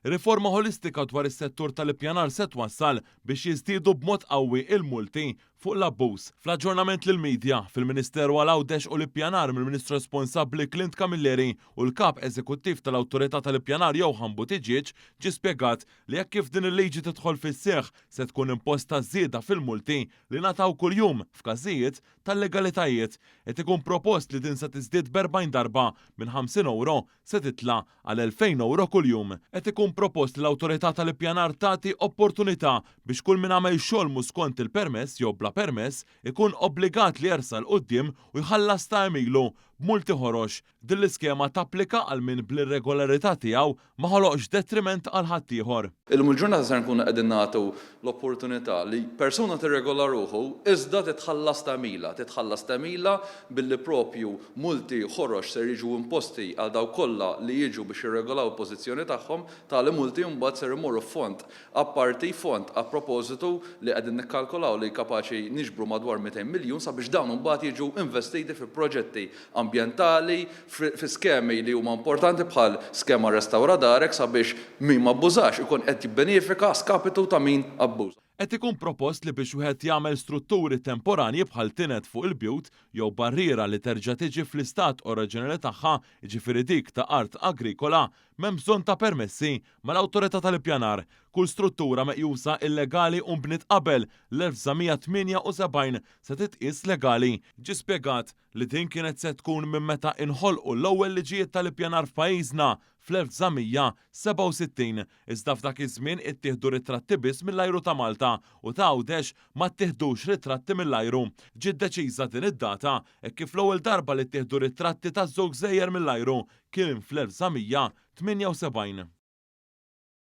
Riforma ħolistika dwar is-settur tal-ippjanar se twassal biex jiżdiedu b'mod qawwi l-multi fuq l-abbuż. Fl-aġġornament lill-media, fil-Ministeru għal Għawdex u l-Ippjanar mill-Ministru responsabbli Clint Camilleri u l-Kap Eżekuttiv tal-Awtorità tal-Ippjanar Johann Buttigieg, ġie spjegat li hekk kif din il-liġi tidħol fis-seħħ se tkun imposta żieda fil-multi li ngħataw kuljum f'każijiet ta' illegalitajiet. Qed ikun propost li din se tiżdied b' 40 darba, minn 50 ewro se titla' għal 2,000 ewro kuljum. Qed ikun propost li l-Awtorità tal-Ippjanar tagħti opportunità biex kull min għamel xogħol mhu skont il-permess jew bla permess ikun obbligat li jersaq 'l quddiem u jħallas ta' għemilu b'multi ħorox. Din l-iskema tapplika għal min bl-irregolarità tiegħu ma ħoloqx detriment għal ħaddieħor. Illum il-ġurnata ser nkunu qegħdin nagħtu l-opportunità li persuna tirregola ruħu iżda titħallas tagħmilha. Titħallas tagħmilha billi proprju multi ħorox ser jiġu imposti għal dawk kollha li jiġu biex jirregolaw il-pożizzjoni tagħhom. Tali multi mbagħad ser imorru f'fond apparti, fond a proposito li qegħdin nikkalkolaw li kapaċi niġbru madwar 200 miljun sabiex dawn mbagħad jiġu investiti fi proġetti ambjentali, fi skemi li huma importanti bħal skema Restawra Darek sabiex min m'abbużax ikun qed jibbenefika a skapitu ta' min abbuża. Qed ikun propost li biex wieħed jagħmel strutturi temporanji bħal tined fuq il-bjut jew barriera li terġa' tiġi fl-istat oriġinali tagħha, jiġifieri dik ta' art agrikola, m'hemm bżonn ta' permessi mal-Awtorità tal-Ippjanar. Kull struttura meqjusa illegali u nbniet qabel l-1978 se titqies legali, ġie spjegat. li din kienet se tkun minn meta inħolqu l-ewwel liġijiet tal-ippjanar f'pajjiżna fl-1967, iżda f'dak iż-żmien ittieħdu ritratti biss mill-ajru ta' Malta u ta' Għawdex ma ttiħdux ritratti mill-ajru. Ġiet deċiża din id-data hekk kif l-ewwel darba li ttieħdu ritratti taż-żewġ gżejjer mill-ajru kien fl-1978.